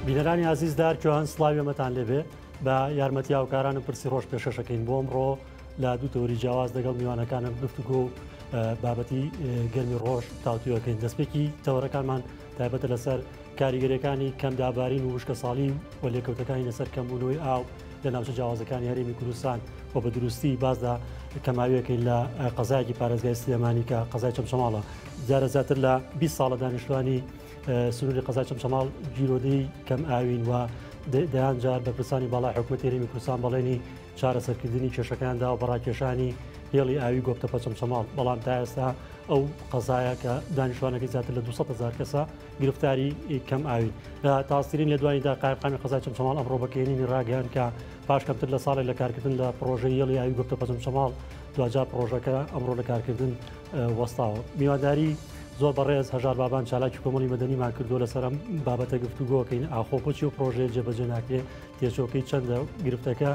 بینەرانی ئازیز دار کیۆهان سڵاوی ئەمەتان لێبێ بە یارمەتی هاوکارانم پرسی ڕۆژ پێشەشەکەین بۆم ڕۆ لە دوو تەوری جیاواز دەگەڵ میوانەکانم گفتگۆ و بابەتی گەرمی ڕۆژ تاوتویەکەین دەستپێکی تەوەرەکانمان تایبەتە لەسەر کاریگەریەکانی کەمدابارین و وشکە ساڵی و لێکەوتەکانی لەسەر کەمبوونەوەی ئاو لە ناوچە جیاوازەکانی هەرێمی کوردستان و بە دروستی باسدا کەماویەکەین لە قەزایەکی پارێزگای سلێمانی کە قەزای چەمچەماڵە جارە زیاتر لە 20 ساڵە دانیشتوانی سنووری قەزای چەمچەماڵ گیرۆدەی کەم ئاوین و دەیان جار بەپرسانی باڵای حکوومەتی رێمی کوردستان بەڵێنی چارەسەرکردنی کێشەکاندا و بەڕاکێشانی هێڵی ئاوی گۆپتە پەچەمچەماڵ بەڵام تا ئێستا ئەو قەزایە کە دانیشتوانەکەی زیاتر لە 200 هزار کەسە گرفتاری کەم ئاوی تاسترین لە دواییدا قایقامی قەزای چەمچەماڵ ئەمڕۆ بەکەێنی ڕاگەیان کە پاش کەمتر لە ساڵێک لە کارکردن لە پرۆژەی هێڵی ئاوی گۆپتە پەچەمچەماڵ دواجا پرۆژەکە ئەمڕۆ لە کارکردن وەستاوە میواداری زۆر بەڕێز هەژار بابان چالاکی کۆمەڵی مەدەنیمان کردو لەسەر ئەم بابەتە گفتوگۆکەین ئاخۆ بۆچی و پرۆژەیە جێبەجێ ناکرێ تێچۆکەی چەندە گرفتەکە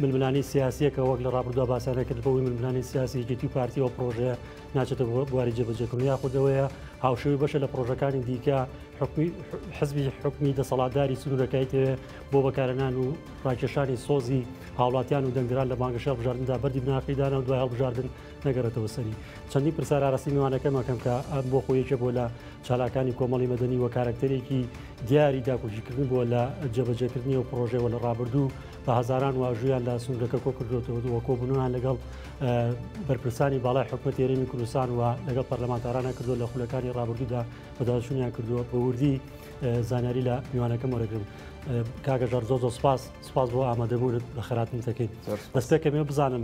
ململانی سیاسیەکە وەک لە ڕابردووە باسانە کرد بۆی ململانی سیاسی یەکێتی و پارتی و پرۆژەیە ناچێتە بواری جێبەجێکردن یا خودەوەیە هاوشەوی بەشە لە پرۆژەکانی دیکە حکومی حزبی حکومی دەسەڵاتداری سنوورەکەی تەوێ بۆ بەکارنان و ڕاکێشانی سۆزی هاوڵاتیان و دەنگران لە بانگەشە بژاردندا بەری بناخیدانە و دوای هەڵبژاردن نەگەڕێتەوە سەری چەندی پرسار ئاراستی میوانەکەم ئەەکەم کە ئەم بۆ خۆ یەکێ بۆ لە چالاکانی کۆمەڵی مەدەنی وە کارکتەرێکی دیاری داکۆکیکردن بووە لە جێبەجێکردنی و پرۆژێەوە لە ڕابردوو بە هزاران واژویان لە سنوورەکە کۆ کردوێتەوە دووە کۆبوونیان لەگەڵ بەرپرسانی باڵای حکوومەت تێرەمی کوردستان و لەگەڵ پەرلەمانتارانە کردو لە خولەکانی ڕابردوودا بەداشونیان کردووە بە وردی زانیاری لە میوانەکەم وەرەگرم کاگەژار زۆ زۆ سپاس سپاس بۆ ئامادەبوونت بە خراپمتەکەیت دەستێکەکەمێ بزانم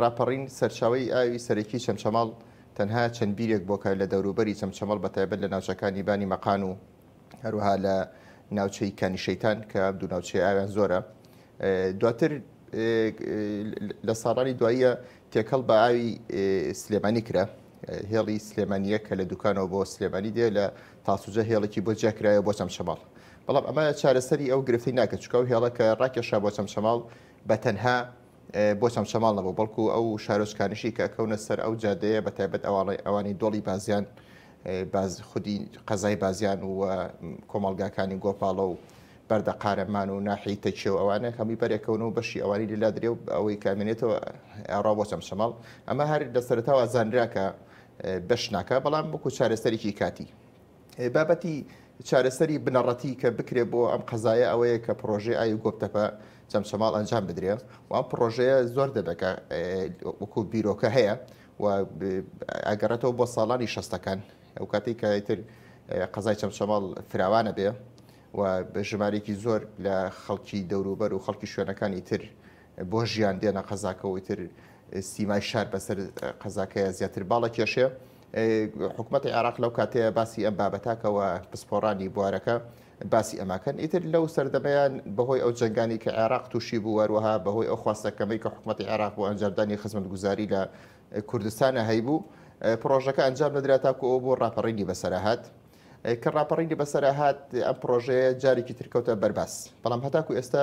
ڕاپەڕین سەرچاوەی ئاوی سەرەکی چەمچەماڵ تەنها چەند بیرێک بۆکە لە دەوروبەری چەمچەمەڵ بە تایبەت لە ناوچەکانی بانی مەقان و هەروها لە ناوچەی کانی شەیتان کە دوو ناوچەی ئاویان زۆرە دواتر لە ساڵانی دواییە تێکەڵ بە ئاوی سلێمانی کرا هێڵی سلێمانیە کە لە دوکانەوە بۆ سلێمانی دێ لە تاسوجە هێڵێکی بۆ جیاکرایە بۆ چەمچەماڵ بەڵام ئەمە چارەسەری ئەو گرفتی ناکە چکاو هێڵەکە ڕاکێشا بۆ چەمچەماڵ بە تەنها بۆ چەمچەماڵ نەبوو بەڵکو ئەو شارۆچکانیشی کە کەونە سەر ئەو جادەیە بە تایبەت ئەواڵی ئەوانی دۆڵی بازیان باز خودی قەزای بازیان و کۆمەڵگاکانی گۆپاڵە و بەردە قارەمان و ناحی تەکیە و ئەوانە هەمی بەرێکەون و بەشی ئەوانی لەلا درێ و ئەوەی کامێنێتەوە ئاڕا بۆ چەمچەماڵ ئەمە هەر لە سەرتاوە زانراکە بەش ناکە بەڵام وەکو چارەسەرێکی کاتی بابەتی چارەسەری بنەڕەتی کە بکرێ بۆ ئەم قەزایە ئەوەیە کە پرۆژەی ئاوی گۆپتەپە چەمچەماڵ ئەنجام بدرێ و ئەم پرۆژەیە زۆر دەبێکە وەکو بیرۆکە هەیە و ئەگەڕێتەوە بۆ ساڵانی شەستەکان ئەو کاتی کەتر قەزای چەمچەماڵ فراوانە بێ و ژمارێکی زۆر لە خەڵکی دەوروبەر و خەڵکی شوێنەکانی تر بۆ ژیان دێنە قەزاکەەوەی تر سیمای شار بەسەر قەزاکەیە زیاتر باڵە کێشێ حکومەتی عێراق لەو کاتەیە باسی ئەم بابەتاکەوە پسپۆڕانی بوارەکە باسی ئەماکەن ئیتر لەو سەردەمەیان بەهۆی ئەو جنگانی کە عێراق تووشی بوو وەروەها بەهۆی ئەو خواستەکەمەی کە حکوومەتتی عێراق بۆ ئەنجامدانی خزمەت گوزاری لە کوردستانە هەیبوو پرۆژەکە ئەنجام نەدرا تاکو ئەو بۆ ڕاپەڕینی بەسەرهات کە ڕاپەڕینی بەسەرهات ئەم پرۆژەیە جارێکی ترکەوتە بەرباس بەڵام هەتاکو ئێستا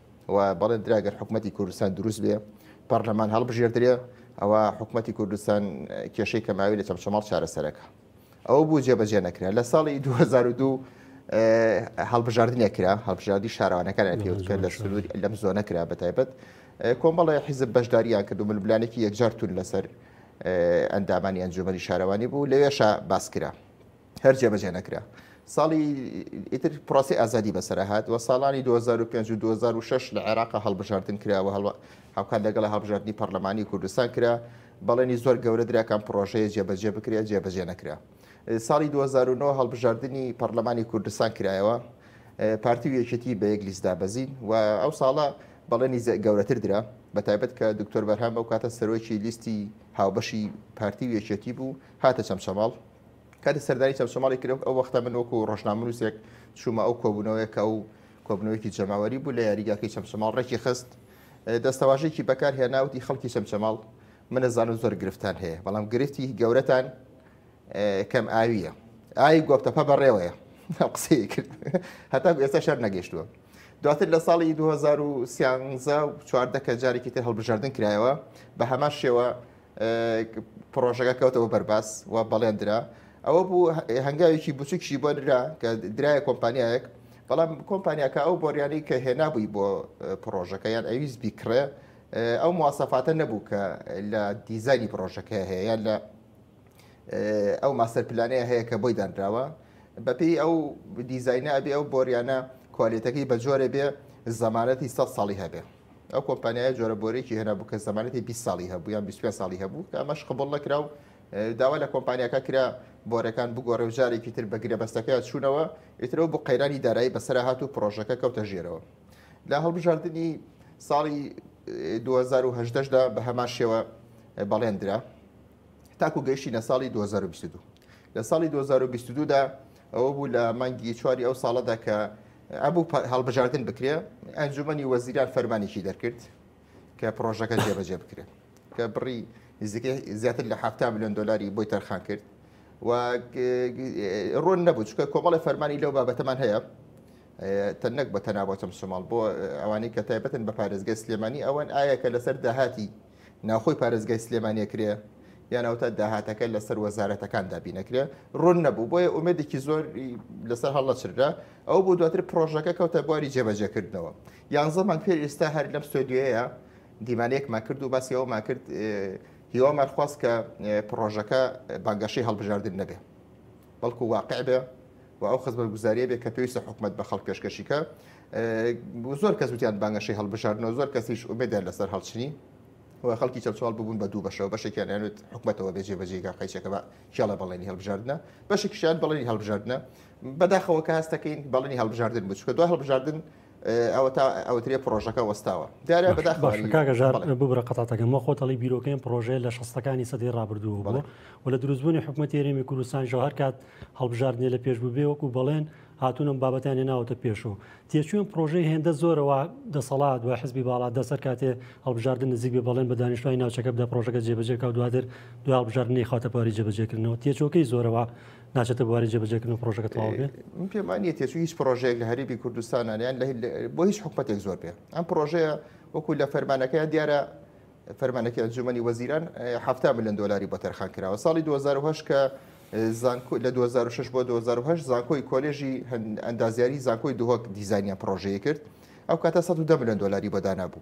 و بەڵێن درا گەر حکوومەتتی کوردستان دروست بێ پەرلەمان هەڵبژێردرێ ئەوە حکوومەتتی کوردستان کێشەی کەماوی لە چەمچەماڵ چارەسەرەکە ئەو بوو جێبەجێ نەکرا لە ساڵی 2002 هەڵبژاردنێ کرا هەڵبژاردی شارەوانەکان پێوتکە لە سنووری لەم زۆنە کرا بە تایبەت کۆمەڵی حیزب بەشداریان کردو ملبلانێکی یەکجار تون لەسەر ئەندامانی ئەنجومەری شارەوانی بوو لەوێشە باسکرا هەر جێبەجێ نەکرا ساڵی ئیتر پرۆسی ئازادی بەسەرهات و ساڵانی 2005 و 2006 لە عێراق هەڵبژاردن کراوە هەڵ هاوکات لەگەڵ هەڵبژاردننی پەرلەمانی کوردستان کرا بەڵێنی زۆر گەورە دراکان پرۆژەیە جێبەجێ بکرێت جێبەجێ نەکرا ساڵی 2009 هەڵبژاردننی پەرلەمانی کوردستان کرایەوە پارتی و یەکێتی بە یەک لیستدا بەزین و ئەو ساڵە بەڵێنی گەورەتر درا بە تایبەت کە دکتۆر بەرهام بەو کاتە سەرۆکی لیستی هاوبەشی پارتی و یەکێتی بوو هاتە چەمچەماڵ کاتی سەردانی چەمچەماڵی کرێک ئەو وەختە من وەکو ڕۆژنامەنووسێک چوومە ئەو کۆبوونەوەیەکە و کۆبنەوەیکی جەماوەری بوو لە یاریگاکەی چەمچەماڵ ڕێکی خست دەستەواژێکی بەکار هێناوتی خەڵکی چەمچەماڵ منە زانم زۆر گرفتان هەیە بەڵام گرفتی گەورەتان کەم ئاویە ئای گۆپتەپە بەڕێوەیە قسەی کرد هەتا ئێستا شەر نەگەشتووە دواتر لە ساڵی 2013 چواردەکە جارێکی تر هەڵبژاردن کرایەوە بە هەمان شێوە پڕۆژەکە کەوتەوە بەرباس و بەڵێندرا ئەوە بوو هەنگاوێکی بچووکشی بۆ درا کە درایە کۆمپانیایەک بەڵام کۆمپانیاکە ئەو بۆریانی کە هێنابووی بۆ پڕۆژەکە یان ئەویست بیکڕێ ئەو موواسەفاتە نەبوو کە لە دیزانی پرۆژەکە هەیە یان لە ئەو ماستەر پلانەیە هەیە کە بۆی دانراوە بەپی ئەو دیزینە ئەبێ ئەو بۆریانە کوالێتەکەی بە جۆرە بێ زەمانەتی سە ساڵی هەبێ ئەو کۆمپانیایە جۆرە بۆرێکی هێنابوو کە زمانەتی 20 ساڵی هەبوو یان 25 ساڵی هەبوو کە ئەمەش قبول نەکرا و داوا لە کۆمپانیاکە کرا بۆرەکان بگۆڕێ و جارێکی تر بە گرێبەستەکەی چوونەوە ئیترەوە بۆ قەیرانی دارایی بەسەر هات و پرۆژەکە کەوتە ژێرەوە لە هەڵبژاردننی ساڵی 2010دا بە هەمان شێوە بەڵێندرا تاکو گەیشتینە ساڵی 2022 لە ساڵی 2022دا ئەوە بوو لە مانگی چواری ئەو ساڵەدا کە ئەبوو هەڵبژاردن بکرێ ئەنجومی وەزیران فەرمانێکی دەرکرد کە پرۆژەکە جێبەجێ بکرێت کە بڕی نزیکەی زیاتر لە حفتا میلیۆن دلاری بۆی تەرخان کرد و ڕۆن نەبوو چکە کۆمەڵی فەرمانی لەو بابەتەمان هەیە تەنەک بە تەنابەتم سوماڵ بۆ ئەوانەی کە تایبەتن بە پارێزگە سلێمانی ئەوەن ئایا کە لەسەر داهاتی ناوخۆی پارێزگای سلێمانی ئەکرێ یان ئەوتا داهاتەکە لەسەر وەزارەتەکان دابینەکرێ ڕوون نەبوو بۆیە ئومێدێکی زۆر لەسەر هەڵەچررا ئەو بۆ دواتر پرۆژەکە کەوتە بواری جێبەجێکردنەوە یانزە مانگ پێر ئێستا هەر لەم ستۆدیۆیە دیمانەیەکمان کرد و باسی ئەومان کرد هیوامان خواست کە پرۆژەکە بانگەشەی هەڵبژاردن نەبێ بەڵکو واقع بێ و ئەو خزمەتگوزاریە بێ کە پێویستە حکومەت بە خەڵک پێشکەشی کە زۆر کەس وتیان بانگەشەی هەڵبژاردنەوە زۆر کەسیش ئومێدیان لەسەر هەڵچنی و خەڵکی چەچوال ببوون بە دوو بەشەوە بەشێکیان یانوت حکومەتەوە بێجێ بەجێگا قەیچەکە بە کێڵە بەڵێنی هەڵبژاردنە بەشێکیشیان بەڵێنی هەڵبژاردنە بەداخەوە کە هەستەکەین بەڵێنی هەڵبژاردن بچکە دوای هەڵبژاردن ئەوەتا ئەوترێ پرۆژەکە وەستاوە دیارە بەداخکاگە ژار ببرە قەتاتەکەم وە خۆتەڵی بیرۆکەم پرۆژەیە لە شستەکانی سەدەی ڕابردوو بڵێ و لە دروستبوونی حکوومەت تێرێمی کوردستان ژە هەر کات هەڵبژاردنێ لە پێش ببێ وەکو بەڵێن هاتوونم بابەتیان ناوتە پێشەوە تێچووم پرۆژەی هێندە زۆرەوە دەسەڵات و حزبی باڵا دەسەر کاتێ هەڵبژاردن نزیک بێ بەڵێن بە دانیشتوانی ناوچەکە بدە پرۆژەکە جێبەجێکا و دواتر دو هەڵبژاردننی خاتەپاری جێبەجێکردنەوە تێچۆکەی زۆرەوە ناچێتە بواری جێبەجێکردن پرۆژەکە تەواو بێت من پێم وانییە تێچووی هیچ پرۆژەیەک لە هەرێمی کوردستان یان لە بۆ هیچ حکومەتێک زۆر بێ ئەم پرۆژەیە وەکو لە فەرمانەکەیان دیارە فەرمانەکە ئەنجومەنی وەزیران هەفتا ملیۆن دلاری بۆ تەرخان کراوە ساڵی 2010 کە زانکۆ لە 2006 بۆ 2010 زانکۆی کۆلێژی ئەندازیاری زانکۆی دهۆک دیزانیان پرۆژەیە کرد ئەو کاتە 110 ملیۆن دلاری بۆ دانابوو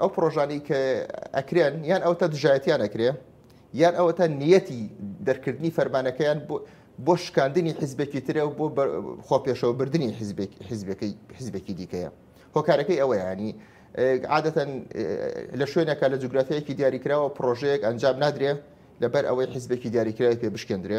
ئەو پرۆژانی کە ئەکرێن یان ئەوتە دژایەتیان ئەکرێ یان ئەوەتە نیەتی دەرکردنی فەرمانەکەیان بۆ شکاندنی حیزبێکی ترە و بۆ خۆپێشەوە بردننی حیزبەکەی حیزبێکی دیکەیە هۆکارەکەی ئەوە ینی عادەتەن لە شوێنەکە لە جوگرافیایەکی دیاریکراوە پرۆژەیەک ئەنجام نادرێ لەبەر ئەوەی حیزبێکی دیاریکراوی پێ بشکێندرێ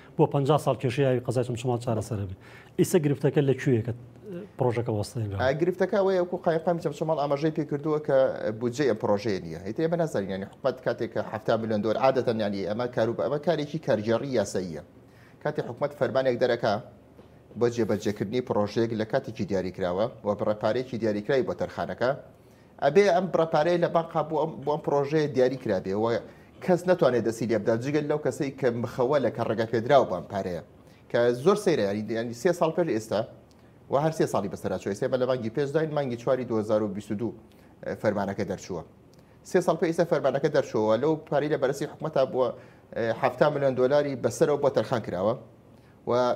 بۆ پەنجا ساڵ کێشەی ئاوی قەزای چەمچەماڵ چارەسەر بێت ئیسە گرفتەکە لە کوێیە کە پرۆژەکە وەستێنرا؟ گرفتەکە ئەوەیە وەکو قایمقامی چەمچەماڵ ئاماژەی پێ کردووە کە بودجەی ئەم پرۆژەیە نییە هەی ئێمە نازانین یانی حکومەت کاتێک کە هەفتا ملیۆن دۆلار عادەتەن یانی ئەمە کار و بە ئەمە کارێکی کارگێڕی یاساییە کاتێک حکومەت فەرمانێک دەرەکە بۆ جێبەجێکردنی پرۆژەیەک لە کاتێکی دیاریکراوە و بڕە پارەیەکی دیاریکراوی بۆ تەرخانەکە ئەبێ ئەم بڕە پارەیە لە بانقا بۆ ئەم بۆ ئەم پرۆژەیە دیاری کرابێ و کەس ناتوانێت دەستی لێ بدات جگەل لەو کەسەی کە مخەوە لە کە ڕێگە پێدراوە بەم پارەیە کە زۆر سەیرە یاری دیانی سێ ساڵ پێش ئێستا و هەر سێ ساڵی بەسەراچوە ئێستا بە لە مانگی پێش داین مانگی چواری 2022 فەرمانەکە دەرچووە سێ ساڵ پێ ئیستا فەرمانەکە دەرچووە لەو پارەی لە بەرسی حکومەتا بووە 7 میلیۆن دلاری بەسەرەوە بۆ تەرخان کراوە و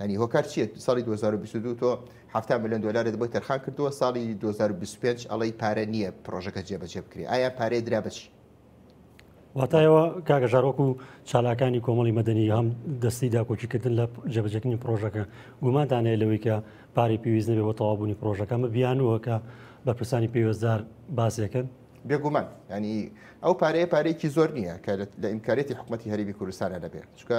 ینی هۆکار چیت ساڵی 2022 تۆ هەفتا میلیۆن دلارت بۆی تەرخان کردووە ساڵی 2025 ئەڵی پارە نییە پرۆژەکە جێبەجێ بکرێ ئایا پارێ درا بچی واتایەوە کاگەژارۆک و چالاکانی کۆمەڵی مەدەنی هەم دەستی داکۆکیکردن لە جێبەجەکنی پرۆژەکە گومانتانەیە لەوەی کە پارەی پێویست نەبێ بۆ تەوابوونی پرۆژەکە مە بیانوە کە بەپرسانی پێوەستدار باسێکن بێگومان ینی ئەو پارەیە پارێکی زۆر نییە کە لە ئیمکارێتی حکوومەتتی هەربی کوردستانە دەبێت چکە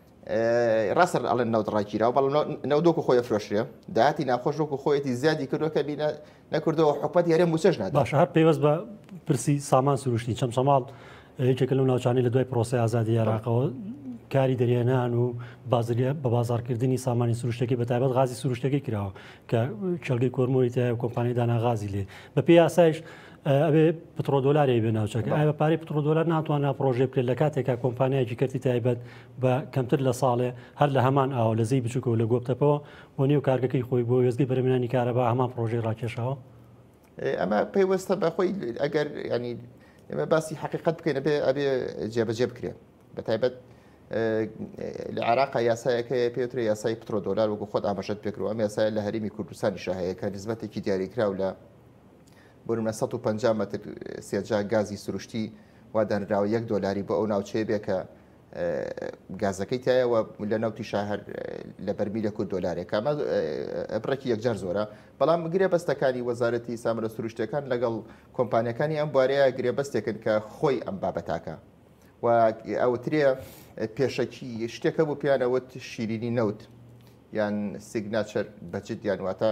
ڕاستە ئەڵێن نەوت ڕاگیراوە بەڵام نەوت وەکو خۆی فرۆشرێ داهاتی ناخۆش وەکو خۆیەتی زیادی کردووە کە بینە نەکردەوە حکومەت یارێ موچەش نات باشە هەر پێوەست بە پرسی سامان سروشتی چەم سەماڵ یەکێکە لەو ناوچانی لە دوای پرۆسی ئازادی عێراقەوە کاری دەریێنان و بازریە بە بازارکردنی سامانی سروشتەکەی بە تایبەت غازی سروشتەکەی کراوە کە کێڵگەی کۆرمۆری تای و کۆمپانی داناغازی لێ بە پێ یاسایش ئەبێ پتڕۆ دۆلاری بێ ناوچەکە ئای بە پارەی پتڕۆ دۆلار ناتوانە پرۆژێ بکرێت لە کاتێکا کۆمپانیایکی کردی تایبەت بە کەمتر لە ساڵێ هەر لە هەمان ئاوە لە زی بچووکەوە لە گۆپتەپەوە و نێو کارگەکەی خۆی بۆ وێزگەی بەرمێنانی کارەبا هەمان پرۆژەی ڕاکێشەوە ئەمە پەیوەستە بەخۆی ئەگەر ینی ئێمە باسی حقیقت بکەین بێ ئەبێ جێبەجێ بکرێن بە تایبەت لە عراقا یاسایەکەی پێوترە یاسای پترۆ دۆلار وەکو خۆت ئاماژەت پێکرو ئەم یاسای لە هەرمی کوردستانی شاهەیەەکە نزبەتێکی دیاریکراو لە بۆنمە 150 متر سێجا گازی سروشتی وادانراوە یەک دۆلاری بۆ ئەو ناوچەیە بێ کە گازەکەی تایەوە لە ناوتی شاهر لە بەرمی لە کورد دۆلارێکە ئەمە بڕێکی یەکجار زۆرە بەڵام گرێ بەستەکانی وەزارەتی سامرە سروشتەکان لەگەڵ کۆمپانیەکانی ئەم بوارەیە گرێ بەستێکن کە خۆی ئەم بابەتاکە و ئەوترێ پێشەکی شتێکە بۆ پیانەوەت شیرینی نەوت یان سیگناچەر بەجدیان واتە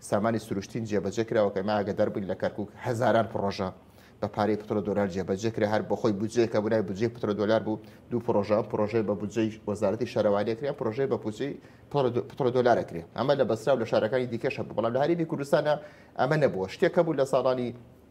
سامانی سروشتین جێبەجێ کراوە کە ئێمە ئاگەدار بووین لە کەرکوک هەزاران پڕۆژە بە پارەی پترۆ دۆلار جێبەجێ کرا هەر بە خۆی بودجەیەکە بوونای بودجەی پترۆ دۆلار بوو دوو پرۆژە پرۆژەی بە بودجەی وەزارەتی شارەوانیە کرێن پرۆژەی بە پوچی پترۆ دۆلارە کرێ ئەمە لە بەسرا و لە شارەکانی دیکەش هەبوو بەڵام لە هەرێمی کوردستانە ئەمە نەبووە شتێکە بوو لە ساڵانی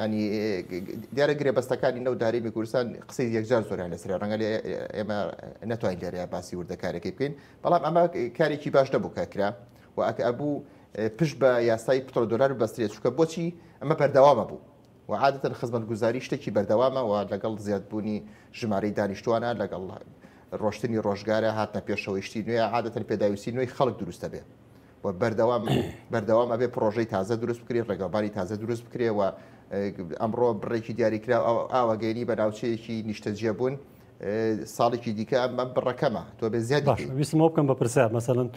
یانی دیارە گرێبەستەکانی نەوت هەرێمی کوردستان قسەی یەکجار زۆریان لەسرە ڕەنگە لێ ئێمە ناتوانین لێرەیە باسی وردەکارەکەی بکەین بەڵام ئەمە کارێکی باش نەبوو کە کرا و ئەکە ئەبوو پشت بە یاسای پتۆ دلار بەسترێت چکە بۆچی ئەمە بەردەوامە بوو و عادەتەن خزمەت گوزاری شتێکی بەردەوامەوە لەگەڵ زیادبوونی ژمارەی دانیشتوانە لەگەڵ ڕۆشتنی ڕۆژگارە هاتنە پێشەوەیشتی نوێ عادەتەن پێداویستی نوێی خەڵک دروستە بێ و بەردەوام بەردەوام ئەبێ پرۆژەی تازە دروست بکرێ ڕێگەباری تازە دروست بکرێ و ئەمڕۆ بڕێکی دیاریکرا ئاواگەێنی بە ناوچەیەکی نیشتەجیە بوون ساڵێکی دیکە ئەم بەم بڕەکەمە تۆ بێ زیاد ویستمەوە بکەم بە پرسیار مەسەن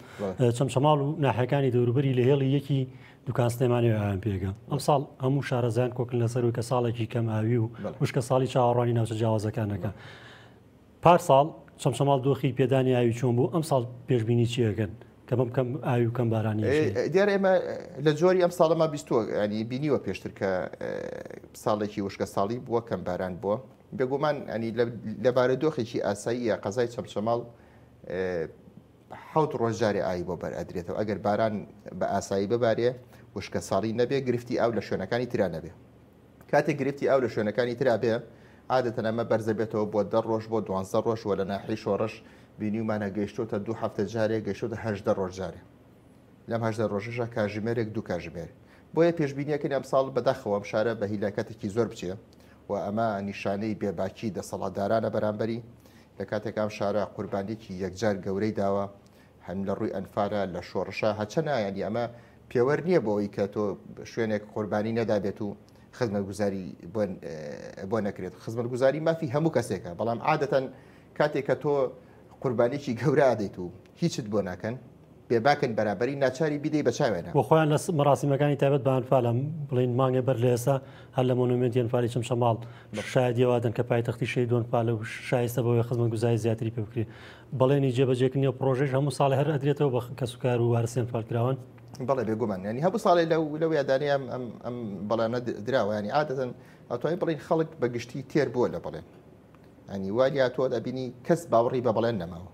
چەم شەماڵ و ناحەکانی دەوروبەری لە هێڵی یەکی دوکان سلێمانی ئەیان پێگە ئەم ساڵ هەموو شارەزان کۆکن لەسەروی کە ساڵێکی کەم ئاوی و وشکە ساڵی چاوەڕوانی ناوچە جیاوازەکانەکە. پارساڵ چەمچەماڵ دۆخی پێدانی ئاوی چۆن بوو، ئەمساڵ پێشبینی چی ئەکەن کە بەم کەم ئاوی و کەم بارانییە چی؟ دیارە ئێمە لە جۆری ئەم ساڵەمان بیستووە ینی بینیوە پێشتر کە ساڵێکی وشکە ساڵی بووە کەم باران بووە بێگومان ئەنی لە بارە دۆخێکی ئاساییە قەزای چەمچەماڵ حوت ڕۆژجارێ ئای بۆ بەر ئەدرێتەوە ئەگەر باران بە ئاسایی ببارێ وشکە ساڵی نەبێ گرفتی ئاو لە شوێنەکانی تررا نەبێ کاتێک گرفتی ئاو لە شوێنەکانی ترا بێ عادەتەن ئەمە بەرزە بێتەوە بۆ دە ڕۆژ بۆ دوانزە ڕۆژ وە لە ناحی شۆڕش بینیومانە گەیشتوتە دوو هەفتە جارێک گەشتوتە هەشدە ڕۆژ جارێ لەم هەشدە ڕۆژەشە کاژمێرێک دوو کاژمێر بۆیە پێشبینیەکەن ئەمساڵ بەداخەوەم شارە بە هیلاکەتێکی زۆر بچێ و ئەمە نیشانەی بێباکی دەسەڵاتدارانە بەرامبەری لە کاتێکام شارە قوربانێکی یەکجار گەورەی داوە هەم لە ڕووی ئەنفالە لە شۆڕشە هەچە نایەنی ئەمە پێوەەر نییە بۆ ئەوی کە تۆ شوێنێک قوربانی نەدابێت و خزمەت گوزاری بۆ نەکرێت خزمەت گوزاری مافی هەموو کەسێکە بەڵام عادەتەن کاتێک کە تۆ قوربانێکی گەورە دەیت و هیچت بۆ ناکەن بێباکن بەرابری ناچاری بیدەی بەچاوێنە بۆخۆیان لە مەراسیمەکانی تایبەت بانفالم بڵین مانگێ بەر لە ئێستا هەر لە مۆنومنتیان فالی چم شەماڵ شایدیوادن کە پایتەختی شەیدۆن پالە و شایستە بەوەی خزمەت گوزای زیاتری پێ بکری بەڵێنی جێبەجێکردنی ئەو پڕۆژەیش هەموو ساڵێ هەر ئەدرێتەوە بە کەسوکار و وارە سێنفالکراوان بەڵێ بێگومان ینی هەموو ساڵێ لەو لەو یادانی ئەم ئەم ئەم بەڵێنە دراوانی عادەتەن ئەتوانین بڵین خەڵک بە گشتی تێر بووە لە بڵێن ئەنی واریا تۆ دەبینی کەس باوەڕی بە بڵێن نەماوە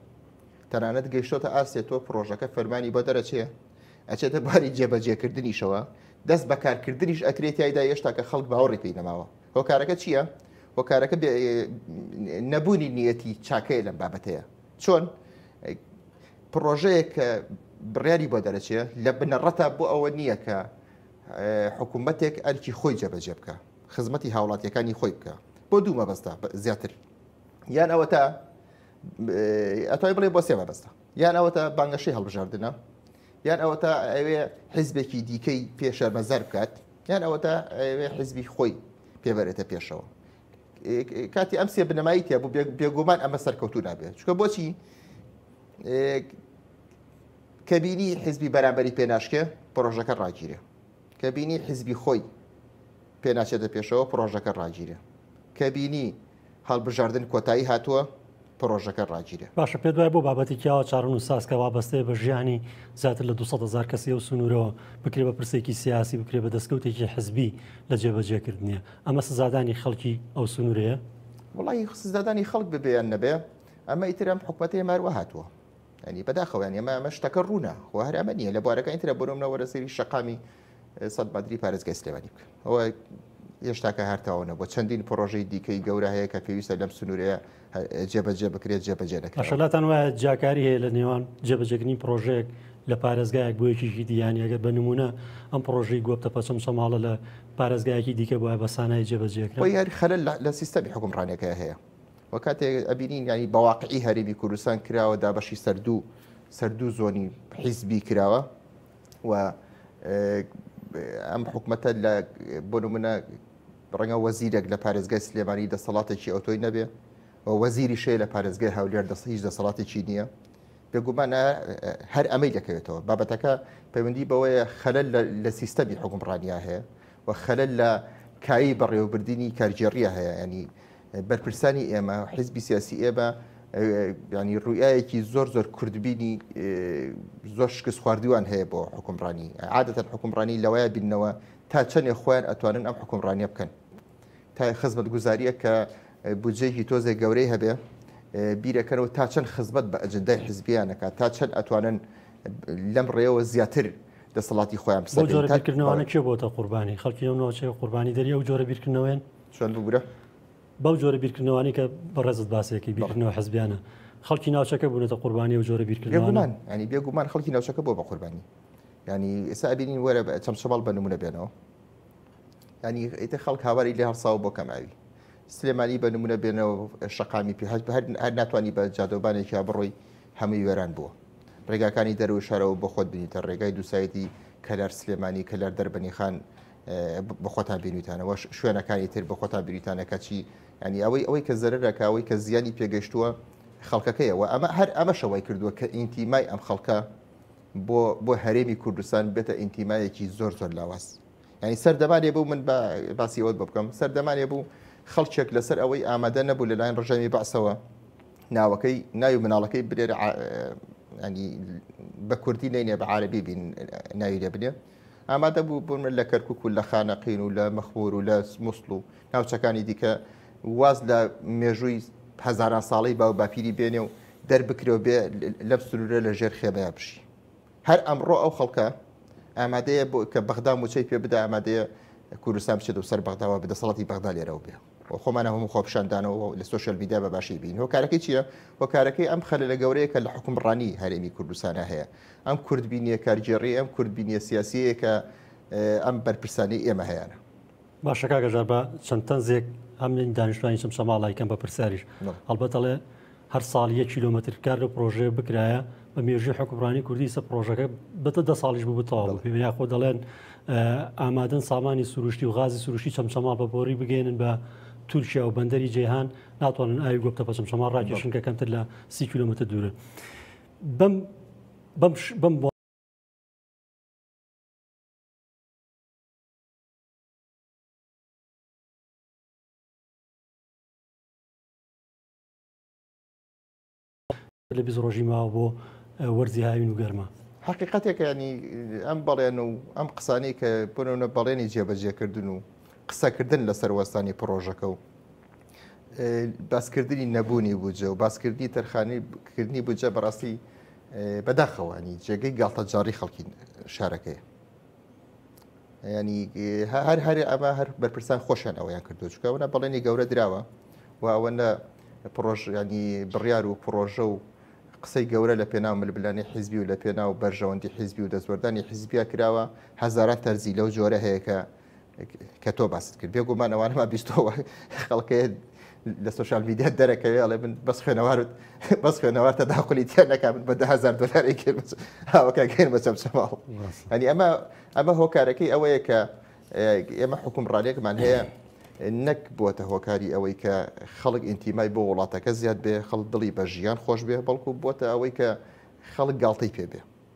تەنانەت گەشتۆتە ئاستێ تۆ پرۆژەکە فەرمانی بۆ دەرەچێ ئەچێتە باری جێبەجێکردنیشەوە دەست بەکارکردنیش ئەکرێت یایدا هێشتا کە خەڵک باوەڕی پێی نەماوە هۆکارەکە چییە؟ هۆکارەکە نەبوونی نیەتی چاکەیە لەم بابەتەیە چۆن پرۆژەیەک کە بڕیاری بۆ دەرەچێ لە بنەڕەتە بۆ ئەوە نییە کە حکوومەتێک ئەرکی خۆی جەبەجێ بکە خزمەتی هاوڵاتیەکانی خۆی بکە بۆ دوو مەبەستا زیاتر یان ئەوە تا ئەتای بڵێ بۆ سێ مەبەستا یان ئەوە تا بانگەشەی هەڵبژاردنە یان ئەوەتا ئەوێ حیزبێکی دیکەی پێ شەرمەزار بکات یان ئەوەتا ئەوێ حیزبی خۆی پێبەرێتە پێشەوە کاتی ئەم سێ بنەمایی تیا بوو بێگومان ئەمە سەرکەوتو نابێت چکە بۆچی کەبینی حیزبی بەرامبەری پێناشکێ پرۆژەکە ڕاگیرێ کەبینی حیزبی خۆی پێناچێتە پێشەوە پرۆژەکە ڕاگیرێ کەبینی هەڵبژاردن کۆتایی هاتووە پرۆژەکە ڕاگیرێ. باشە پێت وایە بۆ بابەتێکی ئاوا چاڕن و ساز کە وابەستەیە بە ژیانی زیاتر لە 200 هەزار کەسی ئەو سنوورەوە بکرێ بە پرسێکی سیاسی بکرێ بە دەستکەوتێکی حزبی لە جێبەجێکردنیە ئەمە سزادانی خەڵکی ئەو سنوورەیە؟ وڵی سزادانی خەڵک ببێ یان نەبێ ئەمە ئیتر ئەم حکوومەتەیە ماروە هاتووە. ینی بەداخەوەیان ئێمە ئەمە شتەکە ڕوونە خۆ هەر ئەمە نییە لە بوارەکانی ترە بۆ نمونە وەرە سەیری شەقامی سەد بەدری پارێزگای سلێمانی بکە ئەوە هێشتاکە هەرتاوە نەبووە چەندین پرۆژەی دیکەی گەورە هەیە کە پێویستە لەم سنوورەیە جێبەجێ بکرێت جێبەجێ دەکرێت ماشەلاتان وایە جیاکاری هەیە لە نێوان جێبەجێکردنی پرۆژێک لە پارێزگایەک بۆ یەکیکی دییان ئەگەر بە نمونە ئەم پرۆژی گۆپتە پەچەم سەماڵە لە پارێزگایەکی دیکە بۆە بە سانای جێبەجێک یار خەل لە سیستەمی حکومڕانەکە هەیە وە کاتێک ئەبینین ینی بەواقعی هەرێمی کوردستان کراوە دا بەشی سەردوو سەردوو زۆنی حیزبی کراوە و ئەم حکومەتە لە بۆ نمونە ڕەنگە وەزیرێک لە پارێزگای سلێمانی دەسەڵاتێکی ئەوتۆی نەبێ و وەزیری شەیە لە پارێزگای هەولێر دەست هیچ دەسەڵاتێکی نییە بێگومانە هەر ئەمەی دەکەوێتەوە بابەتەکە پەیوەندی بەوەیە خەلل لە سیستەمی حکومڕانیا هەیە و خەلل لە کایی بەڕێوەبردننی کارگێڕیە هەیە ینی بەرپرسانی ئێمە حیزبی سیاسی ئێمە ینی ڕوئایەکی زۆر زۆر کوردبینی زۆر شکست خواردووان هەیە بۆ حکومڕانی عادەتەن حکومڕانی لەوەیە بینەوە تا چەندێ خۆیان ئەتوانن ئەم حکومڕانیە بکەن تا خزمەت گوزاریە کە بودجەیەکی تۆزێ گەورەی هەبێ بیرەکەنەوە تا چەند خزمەت بە ئەجندای حزبیانەکە تا چەند ئەتوانن لەم ڕێەوە زیاتر دەسەڵاتی خۆیان بسەکردنەوەە کێ بۆتە قوربانی خەڵکی ئەو ناوچەیە قوربانی دەری ئەو جۆرە بیرکردنەوەێن چۆن ببورە؟ بەو جۆرە بیرکردنەوانەی کە بەڕێزت باسیەکەی بیرکردنەوە حزبیانە خەڵکی ناوچەکە بوونەتە قوربانی و جۆرە بیرکردمان ینی بێگومان خەڵکی ناوچەکە بۆ بە قوربانی ینی ئێستا ئەبینین وەرە چەمچەمەڵ بە نمونە بێنەوە ینی ئیتە خەڵک هاواری لێ هەڵساوە بۆ کەماوی سلێمانی بە نمونە بێنەوە شەقامی پێ هەر هەر ناتوانانی بە جادۆبانێکیا بڕۆی هەمووی وێران بووە ڕێگاکانی دەرو شارەوە بە خۆت بینیتە ڕێگای دووسایەتی کەلار سلێمانی کەلار دەربەنیخان بخۆتان بینویتانەوە شوێنەکانی تر بخۆتان بریتانە کەچی ینی ئەوەی ئەوەی کە زەرەکە ئەوەی کە زیانی پێگەشتووە خەڵکەکەیەوە ئەمە هەر ئەمە شەوای کردووە کە ئینتیمای ئەم خەڵکە بۆ بۆ هەرێمی کوردستان بێتە ئینتیمایەکی زۆر زۆر لاواز ینی سەردەمانێ بوو من باسی ئەوەت بۆ بکەم سەردەمانێ بوو خەڵکێک لەسەر ئەوەی ئامادە نەبوو لەلایەن ڕژامی بەعسەوە ناوەکەی ناوی مناڵەکەی برێرە ینی بە کوردی نینێ بە عربی بین ناوی لێ بنێ ئامادە بوو بوون لە کەرکک و لە خانەقین و لە مەخمور و لە مووسڵ و ناوچەکانی دیکە واز لە مێژووی هەزاران ساڵی باو باپیری بێنێ و دەربکرەوە بێ لەم سنوورە لە ژێر خێمەیە بژی هەر ئەمڕۆ ئەو خەڵکە ئامادەیە بۆ کە بەغدا موچەی پێ بدا ئامادەیە کوردستان بچێت و سەر بەغداوە بدەسەڵاتی بەغدا لێرەوە بێ و خۆمانە هەموو خۆپشاندانەوە لە سوۆشل میدیا بە باشی بین هۆکارەکەی چییە هۆکارەکەی ئەم خەلە لە گەورەیە کە لە حکومڕانی هەرێمی کوردستانە هەیە ئەم کوردبینیە کارگێڕی ئەم کوردبینیە سیاسیەیە کە ئەم بەرپرسانی ئێمە هەیەە باشەکە گەژار بە چەند تەنزێک ئەم دانیشتوانی چم سەماڵایکەم بە پرسیاریش هەڵبەتەڵێ هەر ساڵ یەک کیلۆمەتر کار لەو پرۆژەیە بکرایە بە مێژوی حکومڕانی کوردی سە پرۆژەکە بەتە دە ساڵیش بوو بتەواو پێ یاخۆ دەڵێن ئامادەن سامانی سروشتی و غازی سروشتی چەمچەما بە بۆری بگەێنن بە تورکیا و بەندەری جیهان ناتوانن ئاوی گۆپتە پەچم شەما ڕاکێشن کە کەمتر لە سی کیلومتر دوورە بەم بەم بەم لە بیست ڕۆژی ماوە بۆ وەرزی هاوین و گەرما. حەقیقەتێکە یانی ئەم بەڵێن و ئەم قسانەی کە بۆنەونە بەڵێنی جێبەجێکردن و قسەکردن لەسەر وەستانی پڕۆژەکە و باسکردنی نەبوونی بوجە و باسکردنی تەرخانی کردنی بجە بەڕاستی بەداخەوانی جێگەی گاڵتەجاڕی خەڵکی شارەکەی ینی هەر هەر ئەمە هەر بەرپرسان خۆشیان ئەویان کردو چکە ئەوە بەڵێنی گەورە دراوە و ئەوە لە پرۆژیانی بڕیار و پرۆژە و قسەی گەورە لە پێناو ملبلانی حیزبی و لە پێناو بەرژەوەندی حیزبی و دەستوەردانی حیزبیا کراوە هەزاران تەرزی لەو جۆرە هەیە کە کە تۆ باست کرد بێگومان ئەوانەما بیستەوە خەڵکێ لە سوۆشال میدیا دەرەکەوێ ئەڵێ من بەس خوێنەوارت بەس خوێنەوار تا داخلی تیا نەکە من بە دههزار دلاری کرد هاوەکە گەێن بە چەم چەماڵ ئەنی ئەمە ئەمە هۆکارەکەی ئەوەیە کە ئێمە حکوم ڕالێکمان هەیە نەک بووەتە هۆکاری ئەوەی کە خەڵک ئینتیمای بۆ وڵاتەکە زیاد بێ خەڵ دڵی بە ژیان خۆش بێ بەڵکو بووە ئەوەی کە خەڵک گاڵتەی پێ بێ